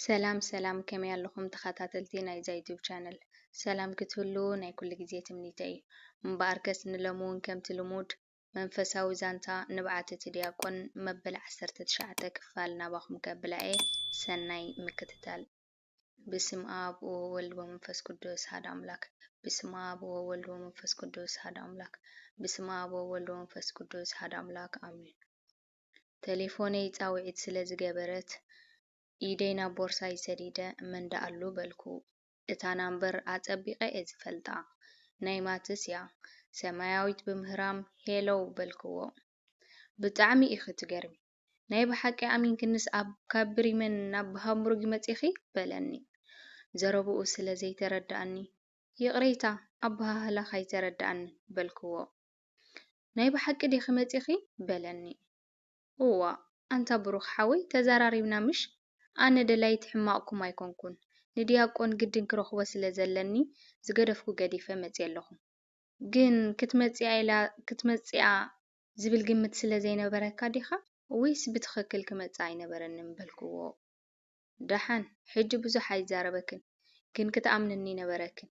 ሰላም ሰላም ከመይ ኣለኹም ተኸታተልቲ ናይዛ ዩቱብ ቻነል ሰላም ክትህልዉ ናይ ኩሉ ግዜ ትምኒተይ እዩ እምበኣርከስ ንሎሚ እውን ከምቲ ልሙድ መንፈሳዊ ዛንታ ንብዓት እቲ ዲያቆን መበል ዓሰርተ ትሽዓተ ክፋል ናባኹም ከብላ እየ ሰናይ ምክትታል ብስም ኣብ ወወልድ ወመንፈስ ቅዱስ ሃድ ኣምላክ ብስም ኣብ ወወልድ ወመንፈስ ቅዱስ ሃድ ኣምላክ ብስም ኣብ ወወልድ ወመንፈስ ቅዱስ ሃድ ኣምላክ ኣሜን። ተሌፎነይ ጻውዒት ስለ ዝገበረት ኢደይ ናብ ቦርሳይ ሰዲደ መን ደኣሉ በልኩ። እታ ናምበር ኣጸቢቐ እየ ዝፈልጣ ናይ ማትስ እያ። ሰማያዊት ብምህራም ሄሎው በልክዎ። ብጣዕሚ ኢኺ ትገርሚ ናይ ብሓቂ ኣሚንክንስ ካብ ብሪመን ናብ ሃምቡርግ መጺኺ? በለኒ ዘረብኡ ስለ ዘይተረድኣኒ። ይቕሬታ ኣበሃህላኽ ኣይተረድኣኒ በልክዎ። ናይ ብሓቂ ዲኺ መጺኺ? በለኒ። እዋ ኣንታ ብሩኽ ሓወይ ተዛራሪብና ምሽ? ኣነ ደላዪት ሕማቕኩም ኣይኮንኩን። ንድያቆን ግድን ክረኽቦ ስለ ዘለኒ ዝገደፍኩ ገዲፈ መጺኤ ኣለኹ። ግን ክትመጽኣ ኢላ ክትመጽኣ ዝብል ግምት ስለ ዘይነበረካ ዲኻ ወይስ ብትኽክል ክመጽእ ኣይነበረንን በልክዎ። ደሓን ሕጂ ብዙሕ ኣይዛረበክን ግን ክትኣምንኒ ነበረክን።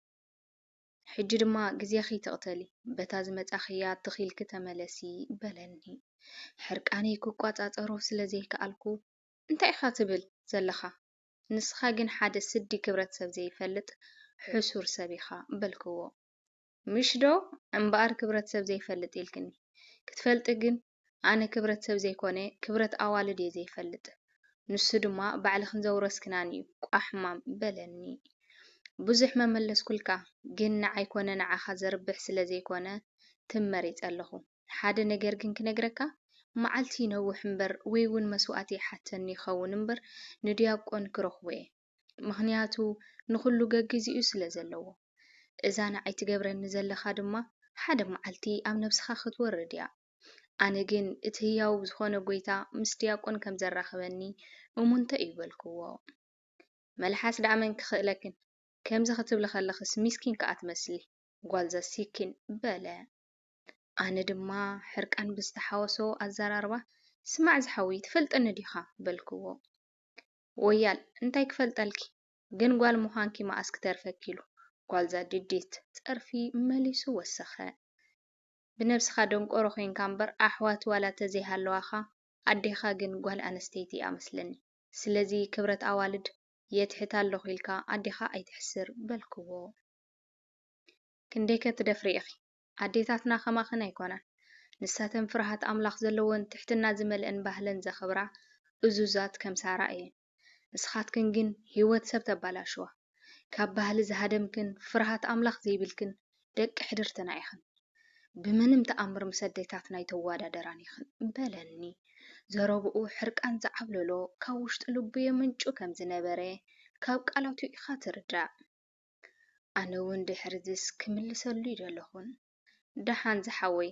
ሕጂ ድማ ግዜ ክይትቕተሊ በታ ዝመጻኽያ ትኽ ኢልኪ ተመለሲ በለኒ። ሕርቃነይ ክቆጻጸሮ ስለ ዘይከኣልኩ እንታይ ኢኻ ትብል ዘለኻ ንስኻ ግን ሓደ ስዲ ክብረት ሰብ ዘይፈልጥ ሕሱር ሰብ ኢኻ በልክዎ። ምሽ ዶ እምበኣር ክብረት ሰብ ዘይፈልጥ ኢልክኒ። ክትፈልጢ ግን ኣነ ክብረት ሰብ ዘይኮነ ክብረት ኣዋልድ እየ ዘይፈልጥ። ንሱ ድማ ባዕልኽን ዘውረስክናን እዩ ቋሕ ሕማም በለኒ። ብዙሕ መመለስኩልካ ግን ንዓይ ኮነ ንዓኻ ዘርብሕ ስለ ዘይኮነ ትም መሪጸ ኣለኹ። ሓደ ነገር ግን ክነግረካ መዓልቲ ይነውሕ እምበር ወይ'ውን መስዋእቲ ይሓተኒ ይኸውን እምበር ንድያቆን ክረኽቦ እየ። ምኽንያቱ ንኹሉ ገጊዚኡ ስለ ዘለዎ። እዛ ንዓይ ትገብረኒ ዘለኻ ድማ ሓደ መዓልቲ ኣብ ነብስኻ ክትወርድ እያ። ኣነ ግን እቲ ህያው ዝኾነ ጎይታ ምስ ድያቆን ከም ዘራኽበኒ እሙንቶ እዩ በልክዎ። መልሓስ ደኣ መን ክኽእለክን ከምዚ ክትብሊ ከለኽስ ሚስኪን ከኣ ትመስሊ ጓል ዘሲኪን በለ። ኣነ ድማ ሕርቃን ብዝተሓወሶ ኣዘራርባ ስማዕ ዝሓውይ ትፈልጠኒ ዲኻ በልክዎ። ወያል እንታይ ክፈልጠልኪ ግን ጓል ምዃንኪ መኣስ ክተርፈኪ ኢሉ ጓልዛ ድዲት። ጸርፊ መሊሱ ወሰኸ። ብነብስኻ ደንቆሮ ኮይንካ እምበር ኣሕዋት ዋላ ተዘይሃለዋኻ ኣዴኻ ግን ጓል ኣንስተይቲ እያ መስለኒ ስለዚ ክብረት ኣዋልድ የትሕት ኣለኹ ኢልካ ኣዴኻ ኣይተሕስር በልክዎ ክንደይከ ትደፍሪ ኢኺ ኣዴታትና ከማኽን ኣይኮናን ንሳተን ፍርሃት ኣምላኽ ዘለወን ትሕትና ዝመልኤን ባህለን ዘኽብራ እዙዛት ከም ሳራ እየን ንስኻትክን ግን ሂወት ሰብ ተባላሽዋ ካብ ባህሊ ዝሃደምክን ፍርሃት ኣምላኽ ዘይብልክን ደቂ ሕድርትና ኢኽን ብምንም ተኣምር ምስ ኣዴታትና ኣይተዋዳደራን ኢኽን በለኒ ዘረብኡ ሕርቃን ዝዓብለሎ ካብ ውሽጢ ልቡ የመንጩ ከም ዝነበረ ካብ ቃላቱ ኢኻ ትርዳእ። ኣነውን ድሕርዝስ ክምልሰሉ ይደለኹን ደሓን ዝሓወይ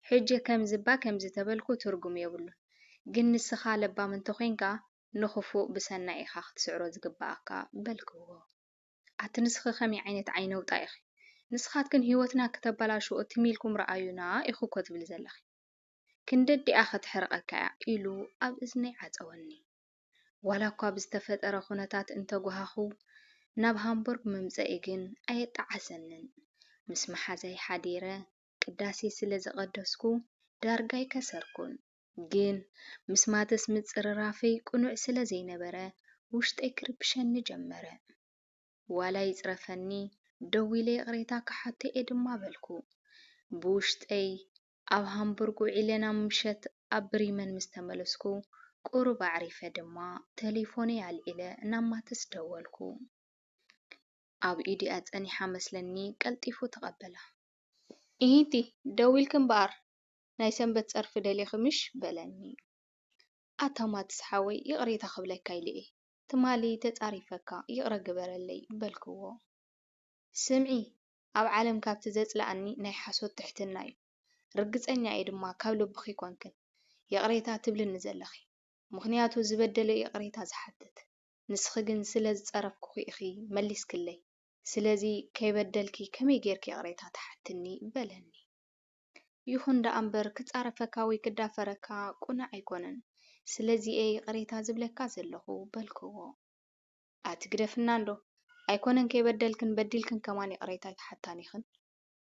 ሕጂ ከምዝባ ከምዝተበልኩ ትርጉም የብሉን ግን ንስኻ ለባም እንተኾይንካ ንኽፉእ ብሰናይ ኢኻ ክትስዕሮ ዝግበኣካ በልክዎ ኣቲ ንስኺ ከመይ ዓይነት ዓይነውጣ ኢኺ ንስኻትክን ሂወትና ክተበላሽዎ ትም ኢልኩም ረኣዩና ኢኺ እኮ ትብሊ ዘለኺ ክንደዲኣ ክትሕርቐካ እያ ኢሉ ኣብ እዝነይ ዓጸወኒ። ዋላኳ ብዝተፈጠረ ኩነታት እንተጓሃኹ፣ ናብ ሃምቡርግ ምምጸኢ ግን ኣየጣዓሰንን። ምስ መሓዛይ ሓዲረ ቅዳሴ ስለ ዘቐደስኩ ዳርጋ ኣይከሰርኩን። ግን ምስ ማተስ ምጽርራፈይ ቅኑዕ ስለ ዘይነበረ ውሽጠይ ክርብሸኒ ጀመረ። ዋላ ይጽረፈኒ ደዊለ ይቕሬታ ክሓቶ'የ ድማ በልኩ። ብውሽጠይ ኣብ ሃምቡርግ ውዒለ ናብ ምሸት ኣብ ብሪመን ምስ ተመለስኩ ቁሩብ ኣዕሪፈ ድማ ተሌፎነይ ኣልዒለ ናብ ማትስ ደወልኩ። ኣብ ኢዱ'ያ ጸኒሓ መስለኒ ቀልጢፉ ተቐበላ። ኢሂ'ቲ ደዊልኪ እምበኣር ናይ ሰንበት ጸርፊ ደሊኺ ምሽ? በለኒ። ኣታ ማትስ ሓወይ ይቕሬታ ክብለካ ኢለ'የ ትማሊ ተጻሪፈካ ይቕረ ግበረለይ በልክዎ። ስምዒ ኣብ ዓለም ካብቲ ዘጽለኣኒ ናይ ሓሶት ትሕትና ዩ ርግጸኛ እየ ድማ ካብ ልብኺ ኮንክን ይቕሬታ ትብልኒ ዘለኺ ምኽንያቱ ዝበደለ ዩ ይቕሬታ ዝሓትት ንስኺ ግን ስለ ዝጸረፍኩኺ ኢኺ መሊስክለይ ስለዚ ከይበደልኪ ከመይ ጌርኪ ይቕሬታ ትሓትኒ በለኒ ይኹን ደኣ እምበር ክጻረፈካ ወይ ክዳፈረካ ቁኑዕ ኣይኮነን ስለዚ እየ ይቕሬታ ዝብለካ ዘለኹ በልክዎ። ኣቲ ግደፍና እንዶ ኣይኮነን ከይበደልክን በዲልክን ከማን ይቅሬታ ኣይትሓታን ኢኽን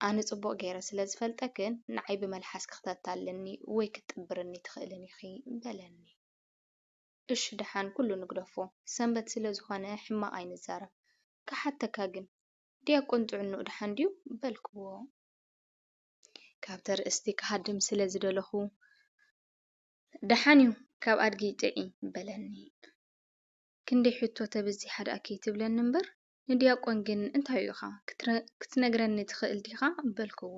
ኣነ ጽቡቅ ጌረ ስለ ዝፈልጠክን ንዓይ ብመልሓስኪ ክተታልልኒ ወይ ክትጥብርኒ ትኽእልን ኢኺ በለኒ እሺ ድሓን ኩሉ ንግደፎ ሰንበት ስለ ዝኾነ ሕማቅ ኣይንዛረብ ክሓተካ ግን ድያቆን ጥዕንኡ ድሓን ድዩ በልክዎ ካብ ተርእስቲ ክሃድም ስለ ዝደለኹ ድሓን እዩ ካብ ኣድጊ ጥዒ በለኒ። ክንደይ ሕቶ ተበዚሓ ድኣ ከይትብለኒ እምበር፣ ንድያቆን ግን እንታዩ ኢኻ ክትነግረኒ ትኽእል ዲኻ? በልክዎ።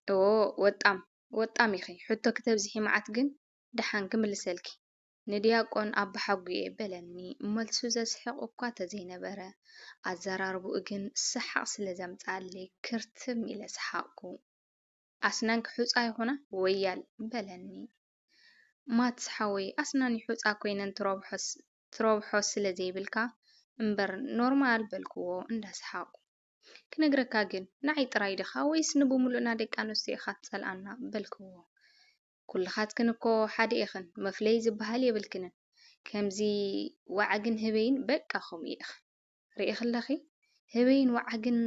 እዎ ወጣም ወጣም ኢኺ፣ ሕቶ ክተብዝሒ መዓት ግን ደሓን ክምልሰልኪ፣ ንድያቆን ኣባሓጉየ በለኒ። መልሱ ዘስሕቕ እኳ ተዘይነበረ፣ ኣዘራርባኡ ግን ሰሓቕ ስለ ዘምጽኣለይ ክርትም ኢለ ሰሓቕኩ። ኣስናንኪ ሑጻ ይኹና ወያል በለኒ። ማትስ ሓወይ ኣስናኒ ሑጻ ኮይነን ትረብሖስ ትረብሖ ስለ ዘይብልካ እምበር ኖርማል በልክዎ እንዳ ሰሓቁ ክነግረካ ግን ንዓይ ጥራይ ዲካ ወይስ ንብሙሉእና ደቂ ኣንስትዮ ኢካ ትጸልኣና በልክዎ ኩልካትክን እኮ ሓደ ኢክን መፍለይ ዝብሃል የብልክንን ከምዚ ዋዓግን ህበይን በቃ ከምኡ ኢክን ሪኢኪ ኣለኪ ህበይን ዋዓግን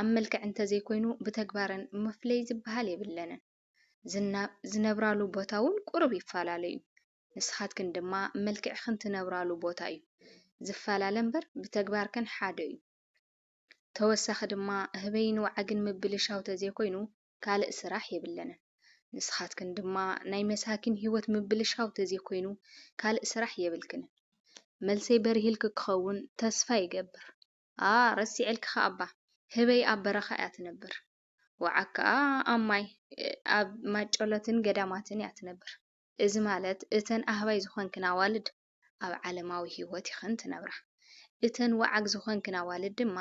ኣብ መልክዕ እንተዘይኮይኑ ብተግባረን መፍለይ ዝብሃል የብለንን። ዝነብራሉ ቦታ ውን ቁሩብ ይፋላለ ዩ ንስካትክን ድማ መልክዕክን ትነብራሉ ቦታ ዩ ዝፋላለ እምበር ብተግባርከን ሓደ ዩ ተወሳኪ ድማ ህበይን ዋዓግን ምብልሻው ተዘይኮይኑ ካልእ ስራሕ የብለንን ንስካትክን ድማ ናይ መሳኪን ሂወት ምብልሻው ተዘይኮይኑ ካልእ ስራሕ የብልክንን መልሰይ በሪህልኪ ክከውን ተስፋ ይገብር ኣኣ ረሲዐልኪ ከኣ እባ ህበይ ኣብ በረካ እያ ትነብር። ወዓግ ከኣ ኣብ ማይ ኣብ ማጨሎትን ገዳማትን እያ ትነብር። እዚ ማለት እተን ኣህባይ ዝኾንክን ኣዋልድ ኣብ ዓለማዊ ህይወት ኢኽን ትነብራ። እተን ወዓግ ዝኾንክን ኣዋልድ ድማ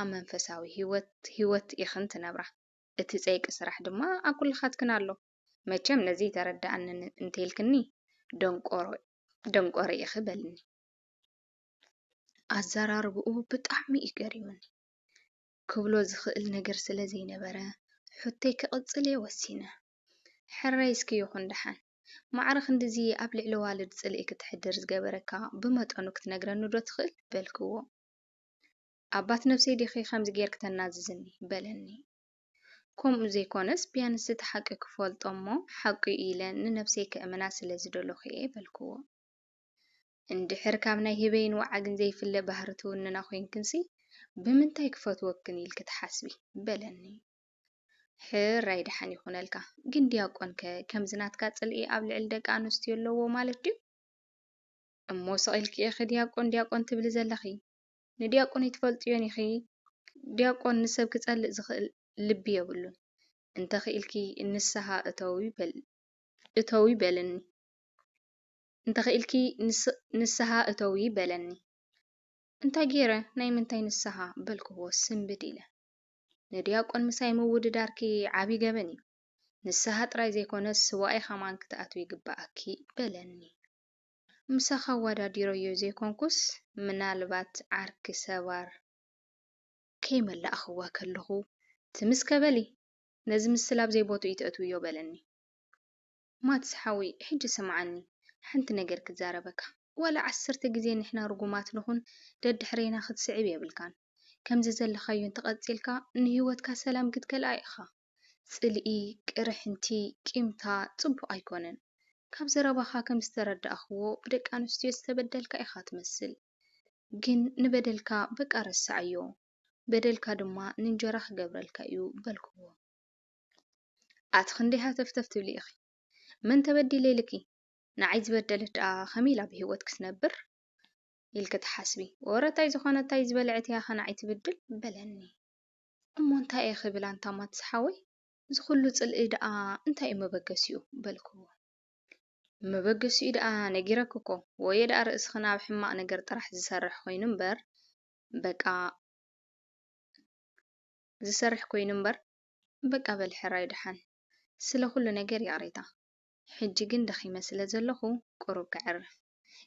ኣብ መንፈሳዊ ህይወት ህይወት ኢኽን ትነብራ። እቲ ጸይቂ ስራሕ ድማ ኣብ ኩልኻትክን ኣሎ። መቸም ነዚ ተረደኣኒ እንተኢልክኒ ደንቆሮ ደንቆሮ ኢኺ በልኒ። ኣዘራርብኡ ብጣዕሚ እዩ ገሪሙኒ። ክብሎ ዝኽእል ነገር ስለ ዘይነበረ፣ ሕቶይ ክቕጽል'የ ወሲነ። ሕራይ እስከ ይኹን ደሓን። ማዕረ ክንድዚ ኣብ ልዕሊ ኣዋልድ ጽልኢ ክትሕድር ዝገበረካ ብመጠኑ ክትነግረኒ'ዶ ትኽእል? በልክዎ። ኣባት ነብሰይ ዲኺ ከምዚ ጌርኪ ተናዝዝኒ? በለኒ። ከምኡ ዘይኮነስ ቢያንስ እቲ ሓቂ ክፈልጦ'ሞ ሓቂ'ዩ ኢለ ንነብሰይ ከእምና ስለ ዝደለኹ'የ በልክዎ። እንድሕር ካብ ናይ ህበይን ወዓግን ዘይፍለ ባህሪ ትውንና ኮይንክንሲ ብምንታይ ክፈትወክን ኢልኪ ትሓስቢ? በለኒ። ሕራይ ደሓን ይኹነልካ። ግን ዲያቆንከ ከምዚ ናትካ ጽልኢ ኣብ ልዕሊ ደቂ ኣንስትዮ ኣለዎ ማለት ድዩ? እሞ ስቕ ኢልኪ ኢኺ ዲያቆን ዲያቆን ትብሊ ዘለኺ። ንዲያቆን ኣይትፈልጥዮን ኢኺ። ዲያቆን ንሰብ ክጸልእ ዝኽእል ልቢ የብሉን። እንተኽኢልኪ ንስሃ እተዊ በልኒ። እንተኺኢልኪ ንስሃ እተዊ በለኒ። እንታይ ገይረ ናይ ምንታይ ንስሃ በልክዎ ስንብድ ኢለ። ንድያቆን ምሳይ ምውድዳርኪ ዓቢ ገበን እዩ። ንስሃ ጥራይ ዘይኮነስ ስዋኣይ ከማን ክትኣትዊ ይግበኣኪ በለኒ። ምሳኻ ኣዋዳዲረዮ ዘይኮንኩስ ምናልባት ዓርኪ ሰባር። ከይመላእክዋ ከለኹ ትምስከ በሊ ነዚ ምስላ ኣብዘይ ቦትኡ ኢተእትውዮ በለኒ። ማትስ ሓወይ ሕጂ ስምዓኒ ሓንቲ ነገር ክዛረበካ ዋላ ዓሰርተ ግዜ ንሕና ርጉማት ንኹን ደድሕሬና ክትስዕብ የብልካን ከምዚ ዘለኻዮ እንተቀጺልካ ንሂወትካ ሰላም ክትከልኣ ኢኻ ጽልኢ ቅርሕንቲ ቂምታ ጽቡቅ ኣይኮነን ካብ ዘረባኻ ከም ዝተረዳእክዎ ብደቂ ኣንስትዮ ዝተበደልካ ኢኻ ትመስል ግን ንበደልካ በቃ ረስዓዮ በደልካ ድማ ንእንጀራ ክገብረልካ እዩ በልክዎ ኣቲ ክንደይ ሃተፍተፍ ትብሊ ኢኺ መን ተበዲለ ኢልኪ ንዓይ ዝበደለት ደኣ ከመይ ኢላ ብሂወት ክትነብር ኢልኪ ትሓስቢ ወረ ታይ ዝኾነ ታይ ዝበልዐት እያ ከ ንዓይ ትብድል በለኒ እሞ እንታይ እየ ክብል ኣንታ ማትስ ሓወይ እዚ ኩሉ ጽልኢ ደኣ እንታይ እዩ መበገሲኡ በልክዎ መበገሲኡ ደኣ ነጊረኪ እኮ ወየ ደኣ ርእስኽን ኣብ ሕማቕ ነገር ጥራሕ ዝሰርሕ ኮይኑ እምበር በቃ ዝሰርሕ ኮይኑ እምበር በቃ በል ሕራይ ደሓን። ስለ ኩሉ ነገር ይቕሬታ። ሕጂ ግን ደኺመ ስለ ዘለኹ ቁሩብ ከዕርፍ።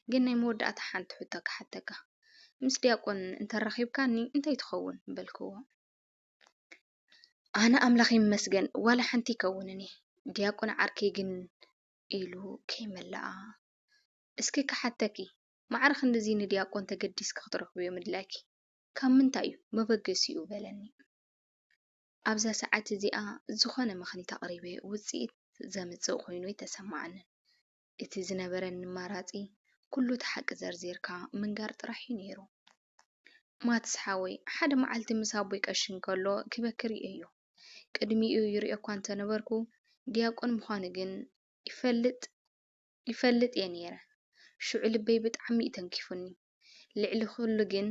ግን ናይ መወዳእታ ሓንቲ ሕቶ ክሓተካ። ምስ ዲያቆን እንተራኺብካኒ እንታይ ትኸውን? በልክዎ። ኣነ ኣምላኽ ይመስገን ዋላ ሓንቲ ይከውንኒ። ዲያቆን ዓርከይ ግን ኢሉ ከይመለኣ። እስኪ ክሓተኪ፣ ማዕረ ክንድዚ ንዲያቆን ተገዲስኪ ክትረኽብዮ ምድላይኪ ካብ ምንታይ እዩ? መበገሲኡ በለኒ። ኣብዛ ሰዓት እዚኣ ዝኾነ ምኽኒት ኣቕሪበ ውጽኢት ዘምጽእ ኮይኑ ኣይተሰማዓንን። እቲ ዝነበረኒ ኣማራጺ ኩሉ እቲ ሓቂ ዘርዚርካ ምንጋር ጥራሕ እዩ ነይሩ። ማትስ ሓወይ ሓደ መዓልቲ ምስ ኣቦይ ቀሺ እንከሎ ክበኪ ርእየዮ። ቅድሚኡ ይርእዮ እኳ እንተነበርኩ ድያቆን ምዃኑ ግን ይፈልጥ ይፈልጥ እየ ነይረ። ሽዑ ልበይ ብጣዕሚ እዩ ተንኪፉኒ። ልዕሊ ኩሉ ግን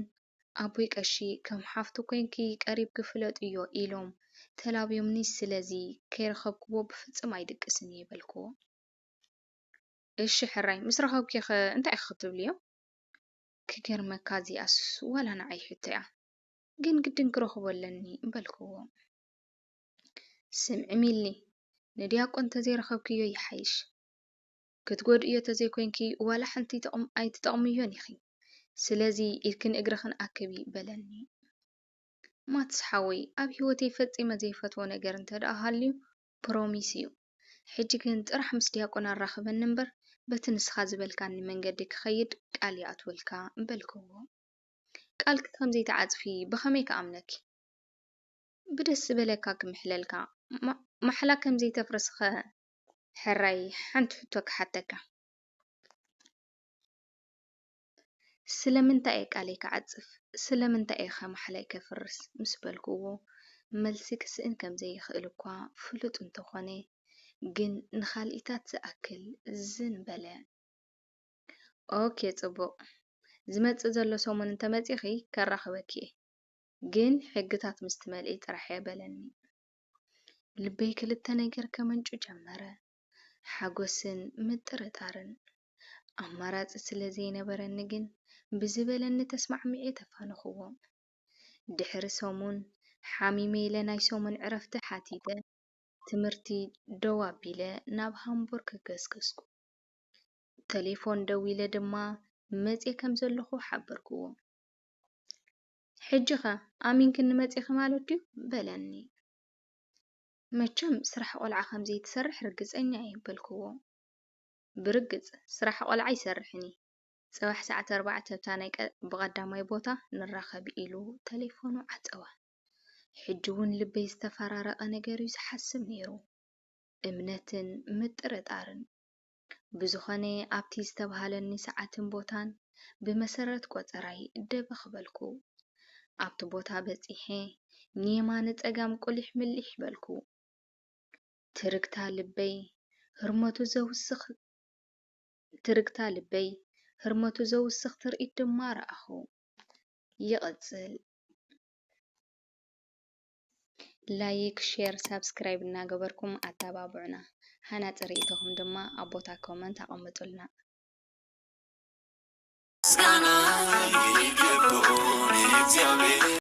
ኣቦይ ቀሺ ከም ሓፍቱ ኮይንኪ ቀሪብኪ ፍለጥዮ ኢሎም ተላብዮምኒ ስለዚ ከይረኸብክዎ ብፍጽም ኣይድቅስን እየ በልክዎ። እሺ ሕራይ ምስ ረኸብኪዮኸ እንታይ ኢኺ ክትብልዮም? ክገርመካ እዚኣስ ዋላ ንዓይ ሕቶ'ያ ግን ግድን ክረኽቦ ኣለኒ በልክዎ። ስምዒ ሚሊ ንድያቆን ተዘይረኸብክዮ ይሓይሽ። ክትጎድእዮ ተዘይኮይንኪ ዋላ ሓንቲ ኣይትጠቕምዮን ኢኺ። ስለዚ ኢድክን እግርኽን ኣክቢ በለኒ። ማትስ ሓወይ ኣብ ህይወተይ ፈጺመ ዘይፈትዎ ነገር እንተድኣ ሃልዩ ፕሮሚስ እዩ። ሕጂ ግን ጥራሕ ምስ ዲያቆን ኣራኽበኒ እምበር በቲ ንስኻ ዝበልካኒ መንገዲ ክኸይድ ቃል ይኣትወልካ በልክዎ። ቃልኪ ከም ዘይትዓጽፊ ብኸመይ ክኣምነኪ? ብደስ ዝበለካ ክምሕለልካ፣ ማሕላ ከም ዘይተፍርስ'ኸ ሕራይ ሓንቲ ሕቶ ክሓተካ? ስለምንታይ እየ ቃለይ ክዓጽፍ፣ ስለምንታይ እየ ከማሕላይ ከፍርስ ምስ በልክዎ፣ መልሲ ክስእን ከም ዘይክእል እኳ ፍሉጥ እንተ ኾነ፣ ግን ንኻልኢታት ዝኣክል ዝን በለ። ኦኬ ጽቡቕ፣ ዝመጽእ ዘሎ ሰሙን እንተ መጺኺ ከራኽበኪ እየ፣ ግን ሕግታት ምስ ትመልኢ ጥራሕ እየ በለኒ። ልበይ ክልተ ነገር ከመንጩ ጀመረ፣ ሓጐስን ምጥርጣርን። ኣማራጺ ስለ ዘይነበረኒ ግን ብዝበለኒ ተስማዕሚዔ ተፋነኹዎ። ድሕሪ ሰሙን ሓሚመ ኢለ ናይ ሰሙን ዕረፍቲ ሓቲተ፣ ትምህርቲ ደው ኣቢለ ናብ ሃምቡርግ ገስገስኩ። ተሌፎን ደዊለ ድማ መጺኤ ከም ዘለኹ ሓበርኩዎ። ሕጂኸ ኣሚንክኒ መጺኺ ማለት ድዩ? በለኒ። መቸም ስራሕ ቖልዓ ከም ዘይትሰርሕ ርግጸኛ እየ በልክዎ። ብርግጽ ስራሕ ቖልዓ ኣይሰርሕን እየ። ጽባሕ ሰዓት ኣርባዕተ ኣብታ ናይ ብቐዳማይ ቦታ ንራኸብ ኢሉ ተሌፎኑ ዓጸወ። ሕጂ'ውን ልበይ ዝተፈራረቐ ነገር'ዩ ዝሓስብ ነይሩ። እምነትን ምጥርጣርን። ብዝኾነ ኣብቲ ዝተብሃለኒ ሰዓትን ቦታን ብመሰረት ቆጸራይ ደበኽ በልኩ። ኣብቲ ቦታ በጺሐ ንየማነ ጸጋም ቁሊሕ ምሊሕ በልኩ። ትርግታ ልበይ ህርመቱ ዘውስኽ ትርግታ ልበይ ህርመቱ ዘውስኽ ትርኢት ድማ ረኣኹ። ይቕጽል። ላይክ ሼር ሳብስክራይብ እናገበርኩም ኣተባብዑና ሃናፂ ሪኢቶኹም ድማ ኣብ ቦታ ኮመንት ኣቐምጡልና።